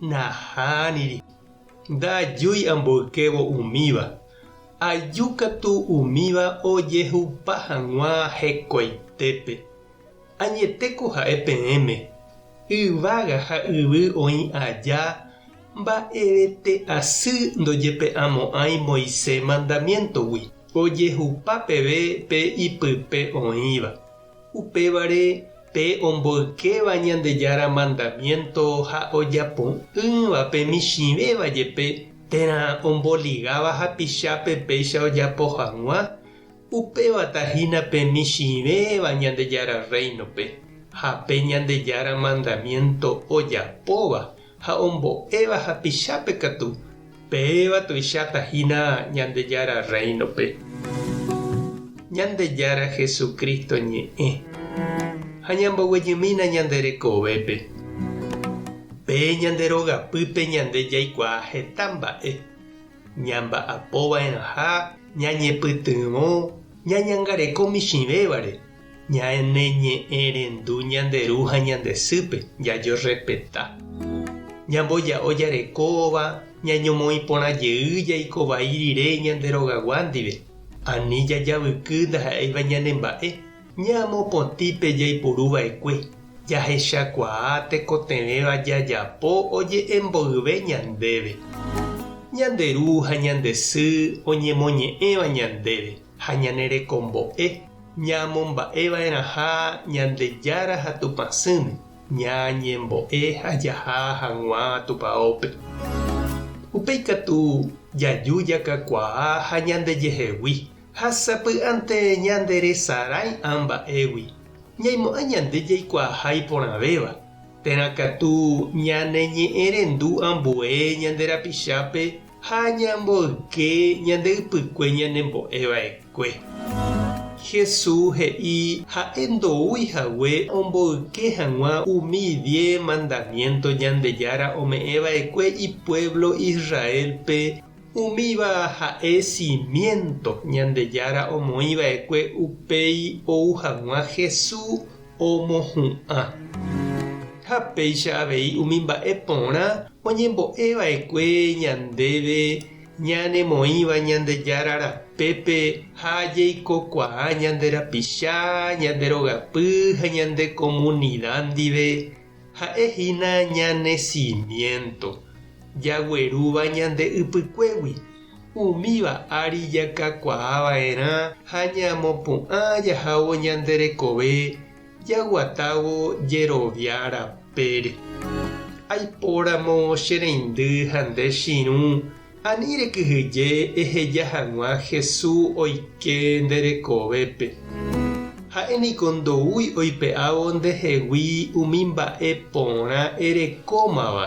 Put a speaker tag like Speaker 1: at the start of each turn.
Speaker 1: Nahániri. Ndaajúi amboykévo umíva. Aju katu umíva ojehupa hag̃ua hekoitépe. Añetéko ha'e peẽme, yvága ha yvy oĩ aja mba'evete asy ndojepe'amo'ãi Moisés mandamiéntogui, ojehupa peve pe ipype oĩva. Upévare pe omboykéva Ñandejára mandamiénto ha ojapo'ỹva pe michĩvéva jepe térã omboligáva hapichápe péicha ojapo hag̃ua, upévata hína pe michĩvéva Ñandejára Rréinope ha pe Ñandejára mandamiénto ojapóva ha ombo'éva hapichápe katu, péva tuicháta hína Ñandejára Rréinope. Ñandejára Jesucristo ñe'ẽ ha ñamboguejymína ñande rekovépe. Pe ñande rogapýpe ñande jaikuaa heta mba'e, ñamba'apova'erãha ñañepytyvõ ñañangareko michĩvévare Ñaneñe'ẽrendu ñande ru ha ñande sýpe, jajerrespeta. Ñamboja'o jarekóva, ñañomoĩ porã jey jaiko vai rire ñande rogagua ndive. Ani jajavyky ndaha'éiva ñane mba'e, ñamopotĩ pe jaipuru va'ekue, jahechakuaa tekotevẽva jajapo oje'e mboyve ñandéve. Ñande ru ha ñande sy oñemoñe'ẽva ñandéve. ha ñane rekombo'e ñaamomba'eva'erãha Ñandejára ha Tupã sỹme, ñañembo'e ha jaha hag̃ua Tupaópe. Upéi katu jaju jakakuaa ha ñandejehegui, ha sapy'ánte ñanderesarãi'a mba'égui, ñaimo'ã ñande jaikuaaha iporãvéva, térã katu ñaneñe'ẽrendu ambue ñande rapichápe, Ha ñamboyke ñande ypykue ñanembo'e va'ekue. Hesu he'i ha'e ndoúi hague omboyke hag̃ua umi die mandamiénto Ñandejára ome'ẽ va'ekue ipuévlo Israélpe, umíva ha'e simiénto Ñandejára omoĩ va'ekue upéi ou hag̃ua Hesu omohu'ã. Ha péicha avei umi mba'e porã oñembo'e va'ekue ñandéve ñanemoĩva Ñandejára rapépe ha jeikokuaa ñande rapicha, ñande rogapy ha ñande komunida ndive, ha'e hína ñane simiénto, jaguerúva ñande ypykuégui. Umíva ári jakakuaa va'erã ha ñamopu'ã jahávo ñande rekove jaguatávo jerovia rapére. Aipóramo che reindy ha nde chirũ, ani rekyhyje eheja hag̃ua Hesu oike nde rekovépe. Ha'e niko ndoúi oipe'ávo ndehegui umi mba'e porã erekómava.